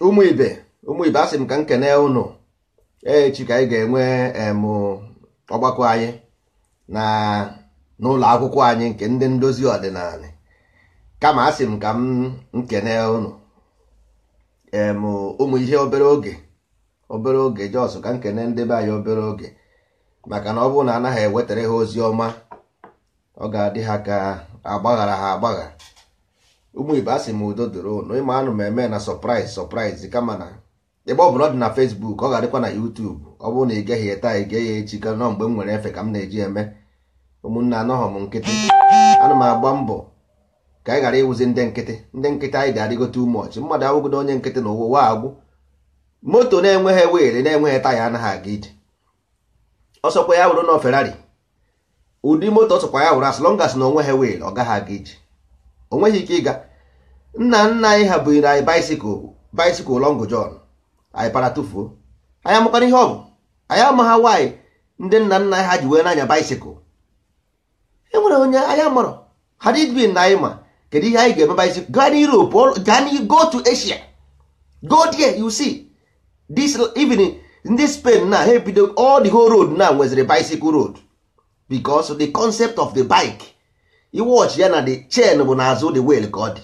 ụmụ ibe ụmụ ibe asị m ka m kene ụnụ echi ka anyị ga-enwe ọgbakọ anyị na n'ụlọ akwụkwọ anyị nke ndị ndozi ọdịnanị kama asị m ka m kene ụnụ ụmụ ihe obere oge obere oge just ka m kene ndị be anyị obere oge maka na ọ bụrụ na anaghị ewetara ha ozi ọma ọ ga-adị ha ka agbaghara ha agbagha ụmụ ibe asị m udo dịrị ụnụ ị ma anụ m eme na surprise surprise kama na ebe ọ bụla ọ dị na Facebook ọ ga-adịkwa na YouTube ọ bụrụ na ị geghị ya taa ị gee ya echi ka na ọ mgbe m nwere efe ka m na-eji eme ụmụnne anọghọ m nkịtị ana m agba mbọ ka anyị ghara ịwụzi ndị nkịtị ndị nkịtị anyị ga-adịgo too much mmadụ awụgodo onye nkịtị na ụwa agwụ moto na-enweghị wheel na-enweghị taya anaghị aga ije ọ sọkwa ya wụrụ na Ferrari ụdị moto ọ sọkwa ya wụrụ as long as na o nweghị wheel ọ gaghị aga ije o nweghị ike ịga nna nna anyị ha bunyere anyị bicycle bicycle long john anyị para tụfuo anyị amakwanụ ihe ọ bụ anyị amaghị why ndị nna nna anyị ha ji wee nye anyị bicycle e nwere onye anyị mụrụ had it been na anyị ma kedu ihe anyị ga-eme bicycle gaa na Europe gaa na go to Asia go there you see this even ndị Spain na ha ebido all the whole road na nweziri bicycle road because the concept of the bike ị watch ya na the chain bụ n'azụ the wheel ka ọ dị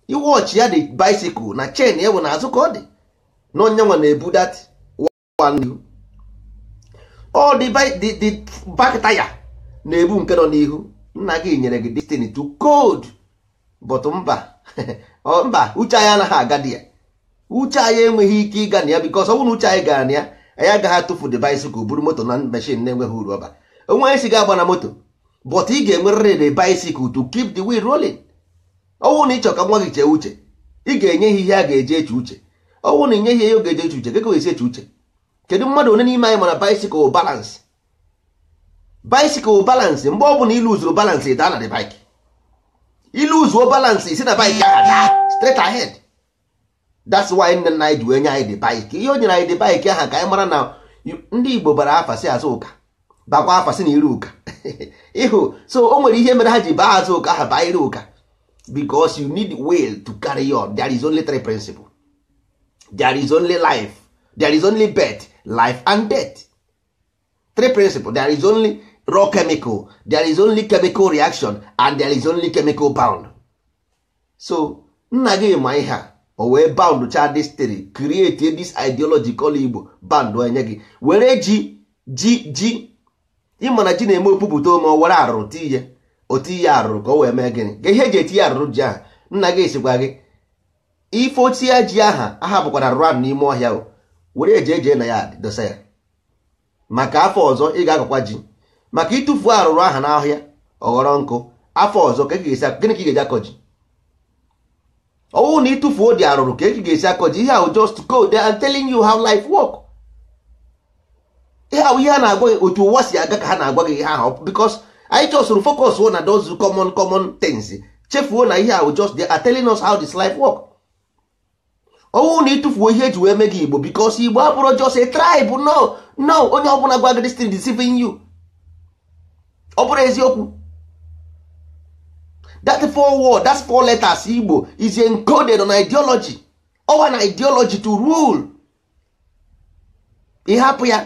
ị watch ya the bicycle na chain ya bụ n'azụ ka ọ dị na ọ ya nwa na-ebu that n'ihu ọ the back taya na-ebu nke nọ n'ihu nna gị nyere gị this thing to code but mba mba uche anyị anaghị aga there uche anyị enweghị ike ịga na ya because ọ bụrụ na uche anyị gara na ya anyị agaghị atụfu the bicycle buru moto na machine na-enweghị uru ọ ba o nweghị onye sị gị abana moto but ị ga-enwerịrị the bicycle to keep the wheel rolling ọ wụrụ na ị chọ ka nwa gị chee uche ị ga-enye ya ihe a ga-eji eche uche ọ wụrụ na i nyeghị ya ihe ọ ga-eji eche uche gị ga-esi eche uche kedu mmadụ one n'ime anyị mara bicycle balance bicycle balance mgbe ọ bụla i luzuru balance ị daa na the bike i luzuo balance i si na bike ahụ daa straight ahead that's why nne nna anyị ji wee nye anyị the bike ihe o nyere anyị the bike ahụ ka anyị mara na ndị Igbo bara afa sị Azụka bakwa afa sị na Iruka ị hụ so o nwere ihe mere ha ji baa Azụka ha baa Iruka because you need wheel to carry on there is only three principle there is only life there is only birth life and death three principle there is only raw chemical there is only chemical reaction and there is only chemical bond so nna gị ma ihe a o wee bound cha this theory create this ideology call igbo bound enye gị were ji ji ji ị ma na ji na-eme o pupụta ome o were arụrụ tinye o tinye arụrụ ka o wee mee gịnị ka ihe eji etinye arụrụ ji ahụ nna gị esikwa gị ife ochie ji aha aha bukwara arụrụ ahụ n'ime ọhịa o were eje eje na ya dosa ya maka afọ ọzọ ị ga-akọkwa ji maka ị tụfuo arụrụ aha n'ahịa ọ ghọrọ nkụ afọ ọzọ ka gịnị ka ị ga-eji akọ ji ọ wụ na ị tụfuo the arụrụ ka ị ga-esi akọ ji ihe ahụ just code and telling you how life work ihe ahụ ihe a na-agwa gị otu ụwa si aga ka ha na-agwa gị ihe ahụ because anyị just focusuo na those common common things chefuo na ihe ahụ just they are telling us how this life work ọ wụ na ị tụfuo ihe eji wee mee gị igbo because igbo abụrọ just a tribe no no onye ọbụla gwa gị this thing deceiving you ọ bụrọ eziokwu that four word that four letters igbo is encoded on ideology ọ wụ an ideology to rule ị hapụ ya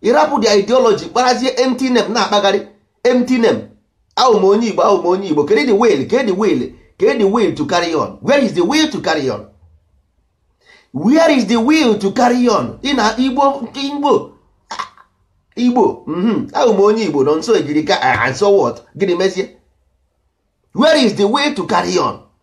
ị rapụ the ideology kparazie empty name na-akpagharị empty name awụ m onye igbo awụ m onye igbo kedu the will kedu the will kedu the will to carry on where is the will to carry on where is the will to carry on ị na igbo igbo igbo mhm. awụ m onye igbo nọ nso ejiri ka ah, and so what gịnị mezie where is the way to carry on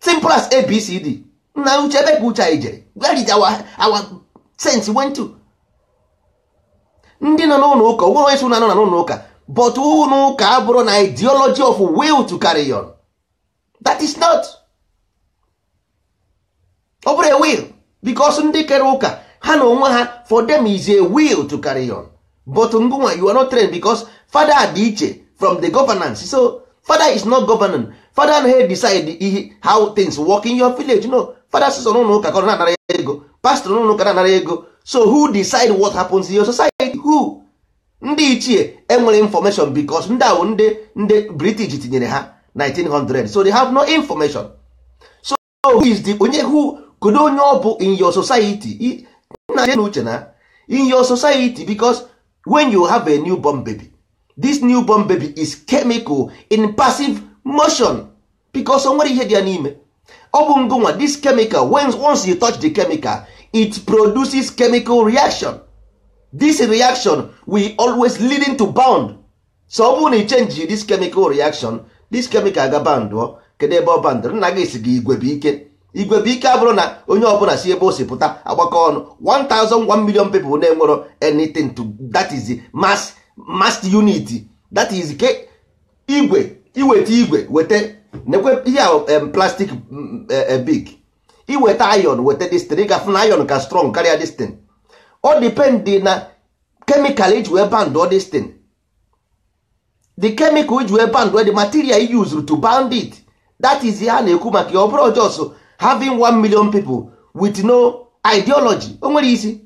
simple as abcd nna uche ebe ka uche anyị jere where did our, our sense went to ndị nọ n'ụlọ ụka o nwerọ onye sị unu anọna n'ụlọ ụka but ụlọ ụka abụrọ an ideology of will to carry on that is not ọ bụrọ a will because ndị kere ụka ha na onwe ha for them is a will to carry on but ngụnwa you are not trained because father dị iche from the governance so father is not governing father anaghị decide ihe how things work in your village no father sọsọ n'ụlọ ụka ka ọ na-anara ego pastor n'ụlọ ụka na-anara ego so who decide what happens in your society who ndị ichie enwerọ information because ndị ahụ ndị ndị british tinyere ha 1900 so they have no information who is the onye who kedu onye ọ bụ in your society na je n'uche na in your society because when you have a new born baby this new born baby is chemical in passive motion because o nwere ihe dị ya n'ime ọ bụ ngụnwa this chemical when once you touch the chemical it produces chemical reaction this reaction will always leading to bound so ọ bụrụ na i change this chemical reaction this chemical ga bandụọ kedu ebe ọ bandụ nna gị si gị igwe bụ ike igwe bụ ike abụrọ na onye ọbụna si ebe o si pụta agbakọ ọnụ 1001 million people na-enwero anything to that is the mass mass unit that is ke igwe i weta igwe weta nekwe ihe ahụ em, plastic mm, eh, eh, big i weta iron weta this thing ị ga-afụ na iron ka strong karịa this thing ọ depend na chemical i ji wee band all this thing the chemical i ji wee band the material you used to bound it that is ihe a na-ekwu maka ya ọ bụrọ just having 1 million people with no ideology o nwerọ isi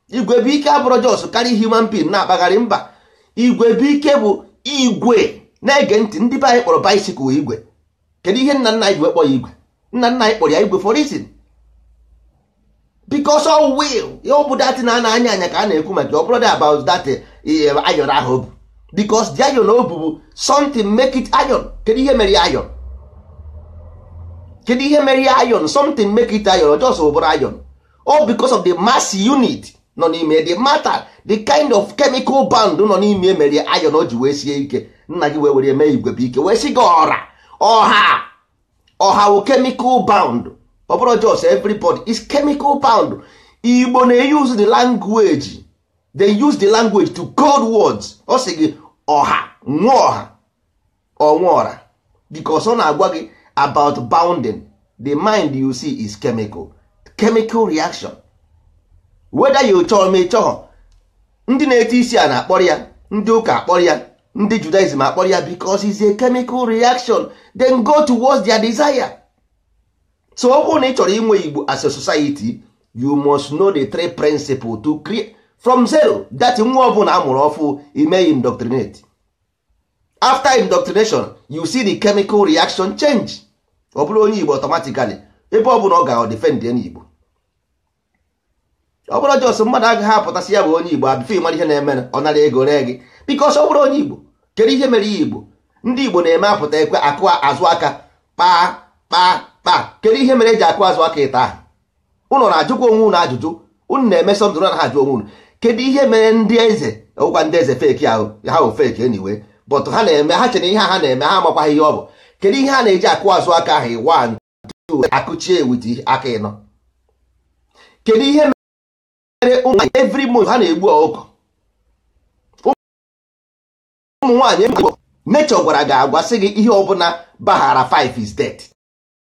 igwe bụ ike abụrọ just carry human being na-akpagharị mba igwe bụ ike bụ igwe na-ege ntị ndị be anyị kpọrọ bicycle igwe kedu ihe nna nna anyị ji wee kpọ ya igwe nna nna anyị kpọrọ ya igwe for reason because of wheel ya ọ bụ that na a na-anya anya ka a na-ekwu maka ọ bụrọ about that eh, eh, iron ahụ ọ bụ because the iron ọ bụ something make it iron kedu ihe mere ya iron kedu ihe mere ya iron something make it iron just bụrụ iron all because of the mass unit nọ n'ime the matter the kind of chemical bond nọ n'ime mere iron o ji wee sie ike nna gị wee were mee igwe bụ ike wee si gị ọra ọha ọha wụ chemical bound ọ bụrọ just everybody is chemical bound igbo na-use the language they use the language to code words ọ sị gị ọha nwa ọha ọnwa ọra because ọ na-agwa gị about bounding the mind you see is chemical chemical reaction whether you chọrọ ma ị chọghọ ndị na-eti isi ana akpọrọ ya ndị ụka akpọrọ ya ndị judaism akpọrọ ya because it's a chemical reaction then go towards their desire so ọ bụrụ na ị chọrọ inwe igbo as a society you must know the three principles to create from zero that nwa ọbụna a mụrụ ọfụ i mee indoctrinate after indoctrination you see the chemical reaction change ọ bụrụ onye igbo automatically ebe ọ bụna ọ ga defend onye igbo ọ bụrọ just mmadụ agaghị apụta sị ya bụ onye igbo before ị mara ihe na-eme ọ nara ego ree gị because ọ bụrọ onye igbo kedu ihe mere ya igbo ndị igbo na-eme apụta ekwe akụ azụ aka kpaa kpaa kpaa kedu ihe mere e ji akụ azụ aka ịtọ ahụ ụnụ na-ajụkwa onwe ụnụ ajụjụ ụnụ na-eme something na ha ajụ onwe ụnụ kedu ihe mere ndị eze ọgwụkwa ndị eze fake ahụ ha bụ fake anyway but ha na-eme ha chere ihe ha na-eme ha amakwaghị ihe ọ bụ kedu ihe ha na-eji akụ azụ aka ahụ iwa akụchie with aka ịnọ kedu ihe mere ụmụ nwaanyị every month ha na-egbu ọkụkọ ụmụ nwaanyị nature gwara gị agwa sị gị ihe ọbụna baghara 5 is dead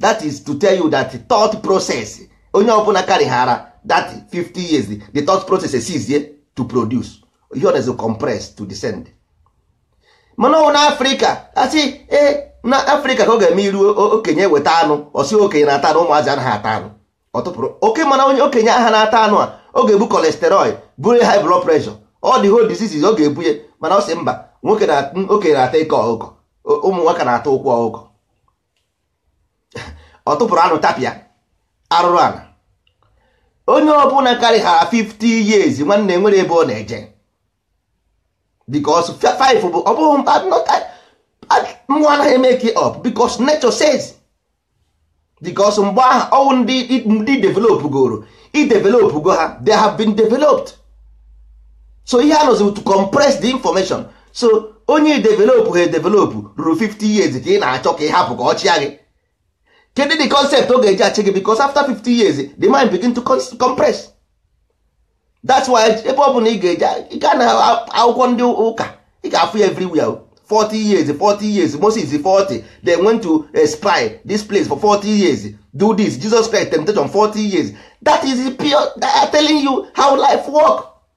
that is to tell you that thought process onye ọbụla karịghara that 50 years the thought process esizie to produce ihe ọ na-ezo compress to descend mana ọ wụ na Africa a sị ee na Africa ka ọ ga-eme iru o- okenye weta anụ ọ sị okenye na-ata anụ ụmụazị anaghị ata anụ ọ tụpụrụ oke mana onye okenye aha na-ata anụ a ọ ga-ebu cholesterol buru ya high blood pressure all the whole diseases ọ ga-ebu ya mana ọ sị mba nwoke na okenye na-ata ike ọkụkọ ụmụ nwoke na-ata ụkwụ ọkụkọ ọ tụpụrụ anụ tapịa arụrụ ala onye ọbụla karịghara 50 years nwanne nwere ebe ọ na-eje because 5 bụ ọ bụghị mkpa mmụọ anaghị emake up because nature says because mgbe ahụ ọ wụ ndị ndị developgoro e developgo ha they have been developed so ihe a nọzi to compress the information so onye developụ ha edevelopụ ruru 50 years ka ị na-achọ ka ị hapụ ka ọ chịa gị kedu the concept ọ ga-eji achị gị because after 50 years the mind begin to compress that's why ebe ọ bụla ị ga-eji gaa na akwụkwọ ndị ụka ị ga-afụ ya everywhere 40 years 40 years Moses 40 they went to eh, spy this place for 40 years do this Jesus Christ temptation 40 years that is pure they are telling you how life work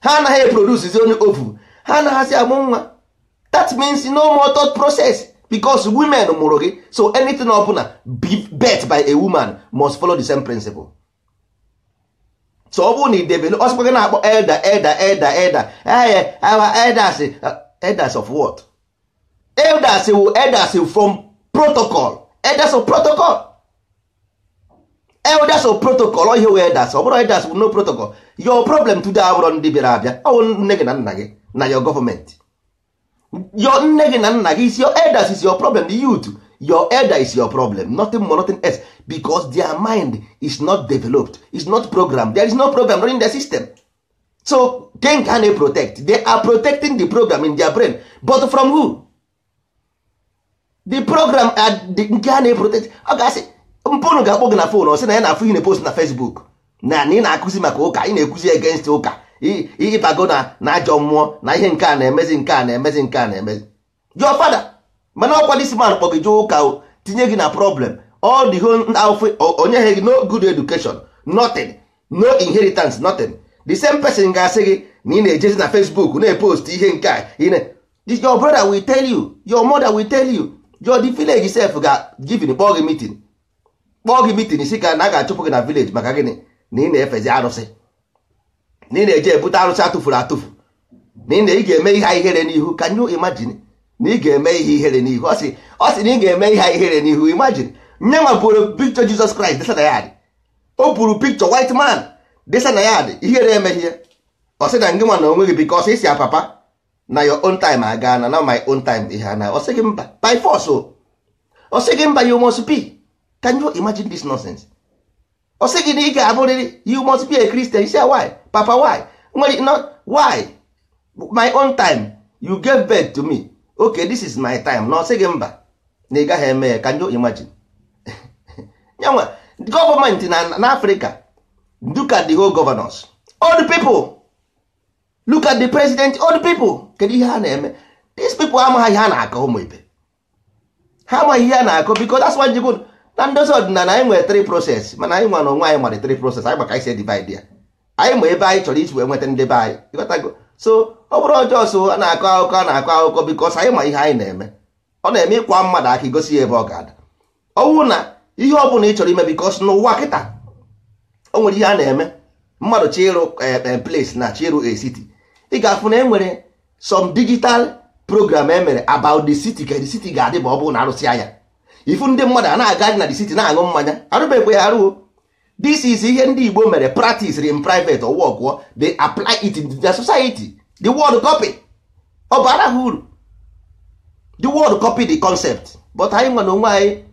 ha anaghị eproducezi any ovum ha anaghịzi amụ nwa that means no more thought process because women mụrụ gị so anything ọbụla birth by a woman must follow the same principle so ọ bụrụ na ị develop ọ sịkwa gị na-akpọ elder elder elder elder ee our elders elders of what elders wụ elders from protocol elders of protocol elders of protocol ọ ihe wee elders ọ bụrụ elders no protocol your problem today abụrọ ndị bịara abịa ọ bụ nne gị na nna gị na your government your nne gị na nna gị is your elders is your problem the youth your elder is your problem nothing more nothing else because their mind is not developed is not programmed there is no program running the system so gịnị ka ha na-eprotect they are protecting the program in their brain but from who? the program nke ha na-eprotect ọ ga-asị mpa ụnụ ga-akpọ gị na phone ọ sị na ya na-afụ ihe ị na-epost na Facebook na na ị na-akụzi maka ụka ị na-ekwuzi against ụka ịbago na na ajọ mmụọ na ihe nke a na-emezi nke a na-emezi nke a na-emezi your father mana ọkwa this man kpọ gị jee ụka tinye gị na problem all the whole afọ o nyeha gị no good education nothing no inheritance nothing the same person ga-asị gị na ị na-ejezi na Facebook na-epost ihe nke a This your brother will tell you your mother will tell you your the village sef ga even kpọọ gị meeting kpọọ gị meeting sị ka na a ga-achụpụ gị na village maka gịnị na ị na-efezi arụsị na ị na-eje ebute arụsị atụfuru atụfu na ị na ị ga-eme ihe ihere n'ihu can you imagine na ị ga-eme ihe ihere n'ihu ọ sị na ị ga-eme ihe ihere n'ihu imagine nye ma buru picture Jesus Christ desa na yard o buru picture white man desa na yard ihere emeghị ya ọ sị na ngị nwa na onwe gị because ị sị ya papa na your own time agaana na my own time ihe ana ọ sị gị mba by force o ọ sị gị mba you must be can you imagine this nonsense ọ sị gị na ị ga-abụrịrị you must be a Christian you say why papa why nwere no why my own time you gave birth to me okay this is my time na ọ sị gị mba na ị gaghị eme ya can you imagine nya nwa government na Africa look at the whole governors old people look at the president old people kedu ihe ha na-eme these people amaghị ihe a na-akọ ụmụ ibe ha amaghị ihe a na-akọ because that's why jigo na ndozi ọdịnala anyị nwere three process mana anyị nwa na onwe anyị mara three process anyị ma ka e si divide ya anyị ma ebe anyị chọrọ isi wee nweta ndị be anyị ị ghọtago so ọ bụrọ just a na-akọ akụkọ a na-akọ akụkọ because anyị ma ihe anyị na-eme ọ na-eme ị kwaa mmadụ aka i gosi ya ebe ọ ga-ada ọ wụ na ihe ọ bụla ị chọrọ ime because n'ụwa kịta o nwere ihe a na-eme mmadụ chọọ ịrụ eh, eh, place na chọọ ịrụ a city ị ga-afụ na e nwere some digital program e mere about the city ka the city ga-adị ma ọ bụrụ na a rụsịa ya ị fụ ndị mmadụ a na-aga na the city na-aṅụ mmanya a rụbekwe ya arụ o this is ihe ndị Igbo mere practice in private ọ work o, they apply it in their society the world copy ọ bara ha uru the world copy the concept but anyị nwa na onwe anyị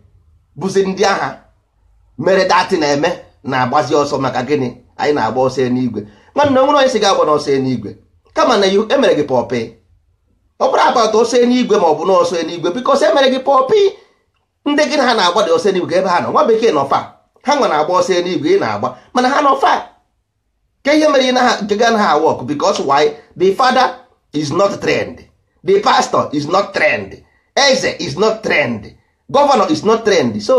bụzi ndị ahụ mere that thing na-eme na-agbazi ọsọ maka gịnị anyị na-agba ọsọ enuigwe nwanne o nwere onye sị gị agbana ọsọ enuigwe kama na e mere gị pọpị ọ bụrọ about ọsọ enuigwe ma ọ bụ n'ọsọ enuigwe because e mere gị pọpị ndị gị na ha na-agbadị ọsọ enuigwe ebe ha nọ nwa bekee nọ far ha nwa na-agba ọsọ enuigwe ị na-agba mana ha nọ far ka ihe mere na ha nke gị anaghị work because why the father is not trained the pastor is not trained eze is not trained governor is not trained so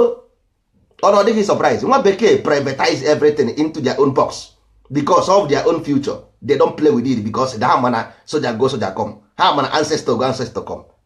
ọ na ọ dịghị surprise nwa bekee privatize everything into their own box because of their own future they don't play with it because ha ma na soldier go soldier come ha ma na ancestor go ancestor come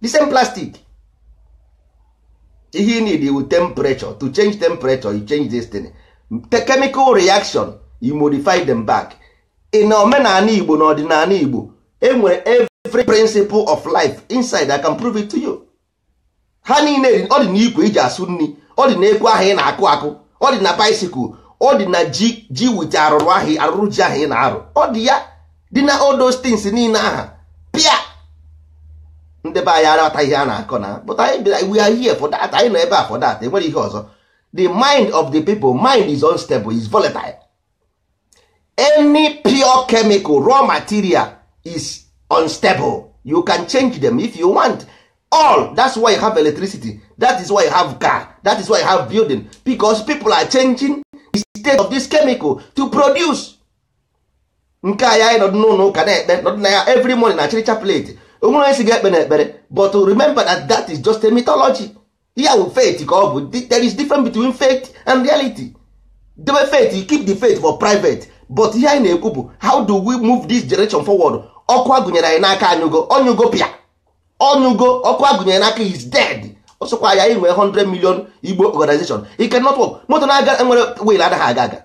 the same plastic ihe you need wụ temperature to change temperature you change this thing the chemical reaction you modify them back in omenala igbo na ọdịnala igbo e nwere every principle of life inside i can prove it to you ha niile ọ dị n'ikwe e ji asụ nri ọ dị n'ekwe ahụ ị na-akụ akụ ọ dị na bicycle ọ dị na ji ji wit arụrụ ahụ arụrụ ji ahụ ị na-arụ ọ dị ya dị na all those things niile aha pịa ndị be anyị aghọta ihe a na-akọ na but anyị we are here for that anyị nọ ebe a for that enwere ihe ọzọ the mind of the people mind is unstable is volatile any pure chemical raw material is unstable you can change them if you want all that's why you have electricity that is why you have car that is why you have building because people are changing the state of this chemical to produce nke a ya anyị nọdụ n'ụlọ ụka na-ekpe nọdụ na ya every morning na church a-pray onwere onye sị gị ekpena ekpere but remember that that is just a mythology ya bụ faith ka ọ bụ there is difference between faith and reality debe faith you keep the faith for private but ihe anyị na-ekwu bụ how do we move this generation forward ọkụ a gụnyere anyị n'aka anyụgo ọ nyụgo pịa ọ nyụgo ọkụ a gụnyere n'aka is dead ọsọkwa ya i nwee 100 million igbo organization it cannot work moto na-aga nwere wheel anaghị aga aga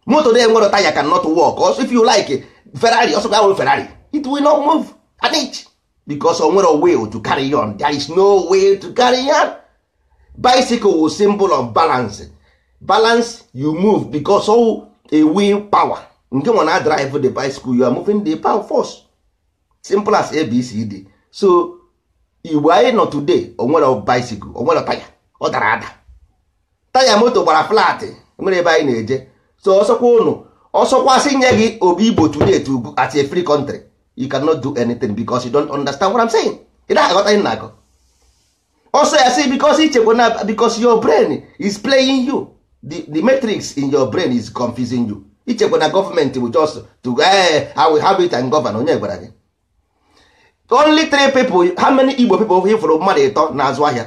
moto na enwere taya cannot work ọsọ if you like ferrari ọsọ gị were ferrari it will not move an inch because o nwere way to carry on there is no way to carry on bicycle wụ symbol of balance balance you move because of a will power ngị nwa na-drive the bicycle you are moving the power force simple as abcd so igbo anyị nọ today onwere bicycle onwere taya ọ dara ada taya moto gbara flat enwere ebe anyị na-eje so ọsọkwa ụnụ ọsọkwa sị nye gị obi igbo today to go as a free country you cannot do anything because you don't understand what I'm saying ị naghị aghọta ihe na-akọ ọsọ ya sị because i chekwa na because your brain is playing you the, the matrix in your brain is confusing you i chekwa na government bụ just to eh, I will have it and govern onye gwara gị only three people how many igbo people hụrụ mmadụ ịtọ na-azụ ahịa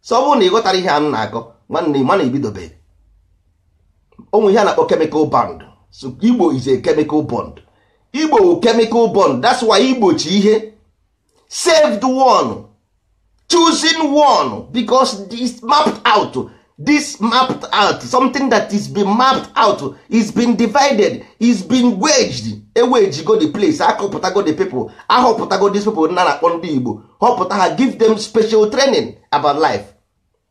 so ọ bụrụ na ị ghọtara ihe a m na-akọ nwanne m anyị ebidobe onwere ihe a na-akpọ chemical bond so igbo is a chemical bond igbo wụ chemical bond that's why igbochi ihe saved one chosen one because this mapped out this mapped out something that is been mapped out is been divided is been wedged ewejigo the place akọpụtago the people ahọpụtago these people na na-akpọ ndị igbo họpụta ha give them special training about life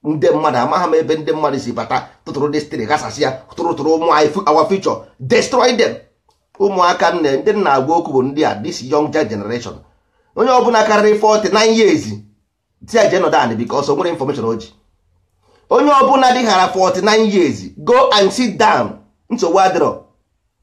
ndị mmadụ amaghị m ebe ndị mmadụ si bata tụtụrụ destiny ghasasịa tụrụ tụrụ ụmụ anyị fu- our future destroy them ụmụaka nne ndị m na-agwa okwu bụ ndị a this younger generation onye ọbụla karịrị 49 years sị ya jee nọdụ anị because o nwere information o ji onye ọbụla dịghara 49 years go and sit down nsogbu adịrọ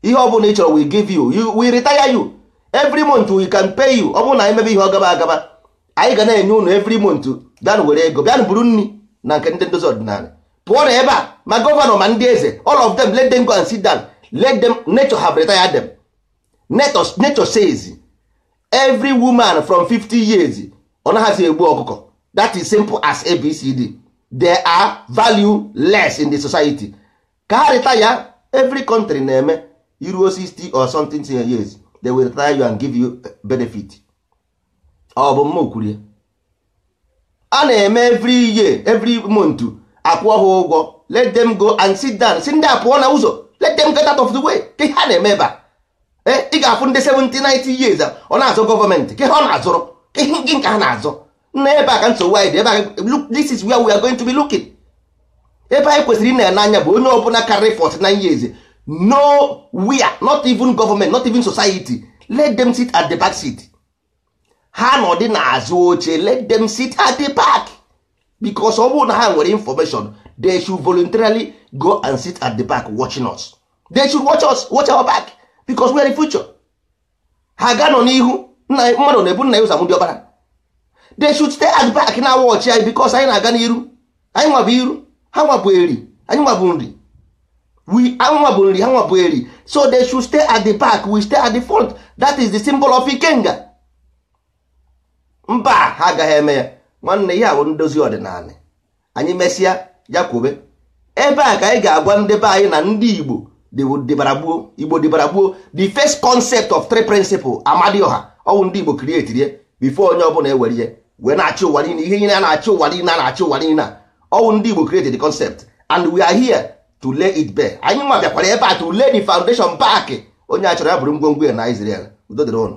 ihe ọ bụla ị chọrọ we give you you we retire you every month we can pay you ọ bụrụ na anyị mebe ihe ọ gaba agaba anyị ga na-enye ụnụ every month bịanụ were ego bịanụ buru nri na nke ndị ndozi ọdịnala pụọ na ebe a ma gọvanọ ma ndị eze all of them let them go and sit down let them nature have retired them nature, nature says every woman from 50 years ọ naghịzi egbu ọkụkọ that is simple as abcd they are valueless in the society ka ha retire every country na-eme i ruo 60 or something years they will retire you and give you benefit ọ bụ mma kwuru ya a na-eme every year every month akwụ ha ụgwọ let them go and sit down sị ndị a pụọ na ụzọ let them get out of the way kee ihe a na-eme ebe a eh, ị ga-afụ ndị 70 90 years ọ na-azọ government kee ihe ọ na-azọrọ kee ihe nke ha na-azọ nna ebe a ka nsogbu anyị dị ebe a this is where we are going to be looking ebe anyị kwesịrị ịna-ene anya bụ onye ọbụla karịrị 49 years no we are not even government not even society let them sit at the back seat ha nọdị n'azụ oche let them sit at the back because ọ bụrụ na ha nwere information they should voluntarily go and sit at the back watching us they should watch us watch our back because we are the future ha ga-anọ n'ihu mmadụ na-ebu nna ya ụzọ amụ diọkpara they should stay at back na-awatch anyị because anyị na-aga n'iru anyị nwa bụ iru ha nwa bụ Eri anyị nwa bụ Nri anyị nwa bụ Nri ha nwa bụ Eri so they should stay at the back we stay at the front that is the symbol of ikenga mba ha agaghị eme ya nwanne ya bụ ndozi ọdịnala anyị mesịa ya kwube ebe a ka anyị ga-agwa ndị be anyị na ndị Igbo dịbara gboo Igbo dịbara gboo the first concept of three principle Amadioha ọ wụ ndị Igbo createrị ya before onye ọbụla ewere ihe wee na-achị ụwa niile ihe niile a na-achị ụwa niile a na-achị ụwa niile ọ wụ ndị Igbo create the concept and we are here to lay it bare anyị nwa bịakwara ebe a to lay the foundation back onye achọrọ ya buru ngwongwo ya naa Israel udo dịrị ụnụ